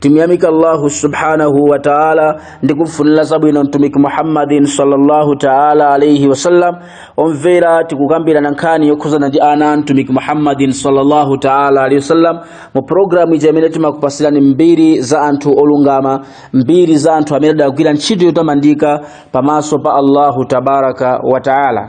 timuyamika allahu subhanahu wa taala ndi kumfunira zabwino mtumiki muhammadin sallallahu taala alaihi wasallam omvera tikukambirana nkhani yokhuzana ndi ana a mtumiki muhammadin sallallahu taala alaihi wasallam mu programu ija imene timakupatsirani mbiri za anthu olungama mbiri za anthu amene adagwira ntchito yotamandika pamaso pa allahu tabaraka wa taala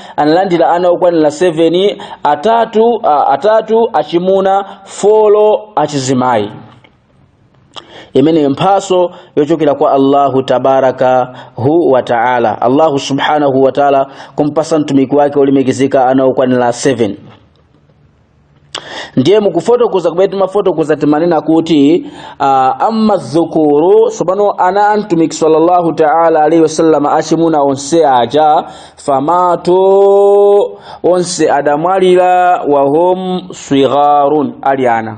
analandira ana okwanira 7 atatu a, atatu achimuna folo achizimayi imene mphatso yochokera kwa allahu tabaraka hu wa taala allahu subhanahu wa taala kumpatsa mtumiki wake olemekezeka ana okwanira 7 ndiye mukufotokoza kumene timafotokoza timanena kuti uh, amma dhukuru tsopano ana a mtumiki sallallahu taala alaihi wasallam achimuna onse aja famatu onse adamwalira wahum swigharun ali ana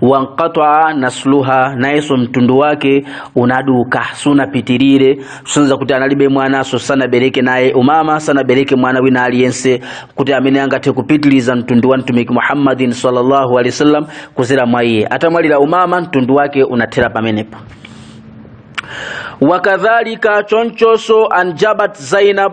wanqataa nasluha nayenso mtundu wake unaduka sunapitirire sonyeza kuti analibe mwananso sanabereke naye umama sanabereke mwana wina aliyense kuti amene angathe kupitiriza mtundu wa mtumiki muhammadin sallallahu alaihi wasallam kuzera mwa iye atamwalira umama mtundu wake unathera pamenepo wakadhalika chonchoso anjabat zainab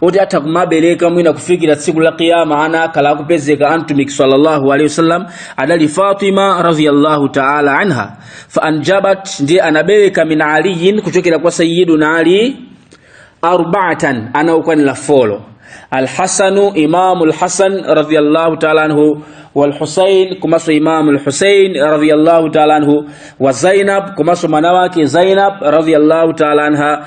oti atha kumabereka mwina kufikira tsiku la kiyama ana akhala akupezeka antumiki sallallahu alaihi wasallam adali fatima radhiyallahu ta'ala anha fa anjabat ndiye anabereka min aliyin kuchokera kwa sayyiduna ali arba'atan ana ukwanila folo alhasanu imamu lhasan radhiyallahu ta'ala anhu walhusain komanso imamu lhusain radhiyallahu ta'ala anhu wa zainab komanso mwana wake zainab radhiyallahu ta'ala anha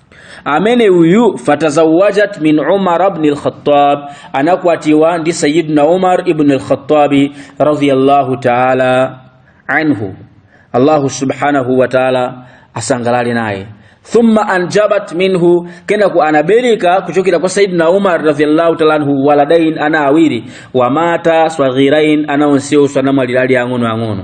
amene uyu fatazawajat min umar ibn al-khattab anakwatiwa ndi sayyidina umar ibn al-khattabi radiyallahu ta'ala anhu allahu subhanahu wa ta'ala asangalale naye thumma anjabat minhu kenako anabereka kuchokera kwa sayyidina umar radiyallahu ta'ala anhu waladain ana awiri wamata swaghirain ana onsewo anamwalira ali ang'ono ang'ono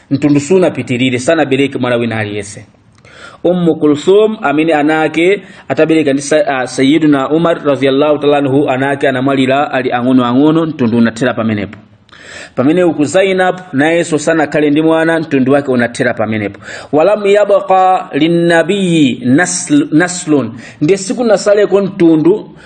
mtundu sunapitirire sanabereke mwana wina aliyense ummu kulthum amene ana ake atabereka ndi uh, sayiduna umar radhiyallahu taala anhu ana ake anamwalira ali ang'ono ang'ono mtundu unathera pamenepo pamene uku zainab nayenso sanakhale ndi mwana mtundu wake unathera pamenepo walam yabqa linnabiyi nasl, naslun ndiye sikunatsaleko mtundu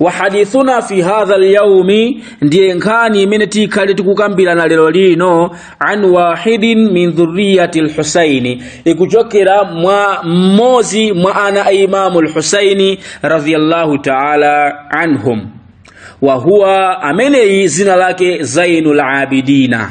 wa hadithuna fi hadha lyaumi ndiye nkhani imene tikhale tikukambirana lero lino an wahidin min dhuriyati lhusaini ikuchokera mwa mmodzi mwa ana a imamu lhusaini radiyallahu taala anhum wa huwa ameneyi dzina lake zainu labidina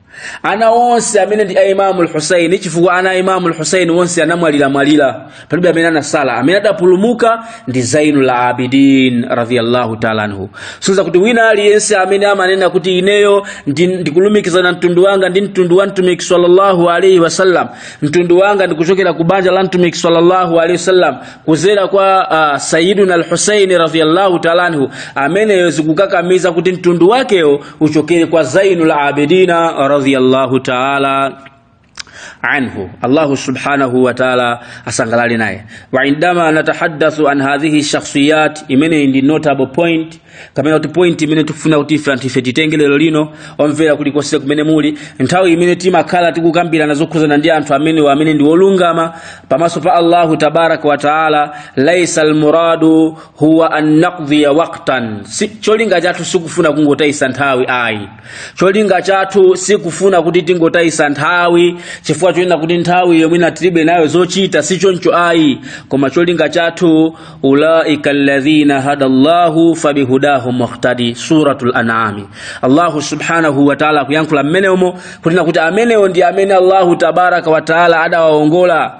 ana onse amene ndi a imamu lhusaini chifukwa ana a imamu lhusaini onse anamwaliramwalira palibe amene anatsala amene adapulumuka ndi zainu la abidin radiallahu taala anhu sonyeza kuti wina aliyense amene amanena kuti ineyo ndi- ndikulumikizana mtundu wanga ndi mtundu wa mtumiki sallallahu alaihi wasallam mtundu wanga ndikuchokera ku banja la mtumiki sallallahu alaihi wasallam kuzera kwa uh, sayiduna lhusaini radiallahu taala anhu ameneyo zikukakamiza kuti mtundu wakeyo uchokere kwa zainul abidina radhiyallahu taala anhu allahu subhanahu wa taala asangalale naye wa indama natahaddathu an hadhihi shakhsiyat imene ndi notable point kapena kuti point imene tikufuna kuti ife anthu ife titenge lero lino omvera kulikonse kumene muli nthawi imene timakhala tikukambirana zokhuzana ndi anthu amene amene ndi olungama pamaso pa allahu tabaraka wa taala laisa almuradu huwa an nakdhiya waktan, cholinga chathu sikufuna kungotayisa nthawi ayi cholinga chathu sikufuna kuti tingotayisa nthawi chifukwa chonena kuti nthawi yomwe ina tilibe nayo zochita si choncho ayi koma cholinga chathu ulaika alladhina hada llahu fabihudahu muktadi suratul anami allahu subhanahu wataala akuyankhula mmenemo kunena kuti amenewo ndi amene allahu tabaraka wataala adawaongola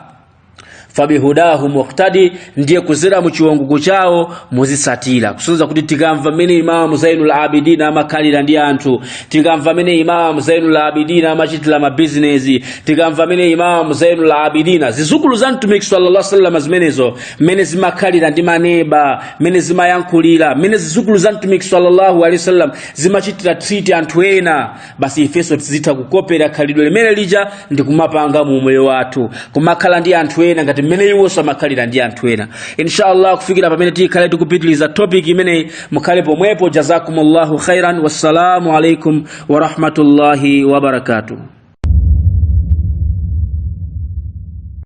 fabihudahu muktadi ndiye kuzera mu chiwongoko chawo muzitsatira kusonza kuti tikamva mmene imamu zainul abidina amakhalira ndi anthu tikamva mmene imamu zainul abidina amachitira mabizinesi tikamva mmene imamu zainul abidina zizukulu za mtumiki sallallahu alaihi wasallam zimenezo mmene zimakhalira ndi maneba mmene zimayankhulira mmene zizukulu za mtumiki sallallahu alaihi wasallam zimachitira treat anthu ena basi ifenso tizitha kukopera khalidwe limene lija ndi kumapanga mu umoyo wathu kumakhala ndi anthu ena ngati mmene iwonso amakhalira ndi anthu ena inshallah kufikira pamene tikhale tikupitiliza topic imeneyi mukhale pomwepo jazakumullahu khairan wassalamu alaikum warahmatullahi wabarakatuh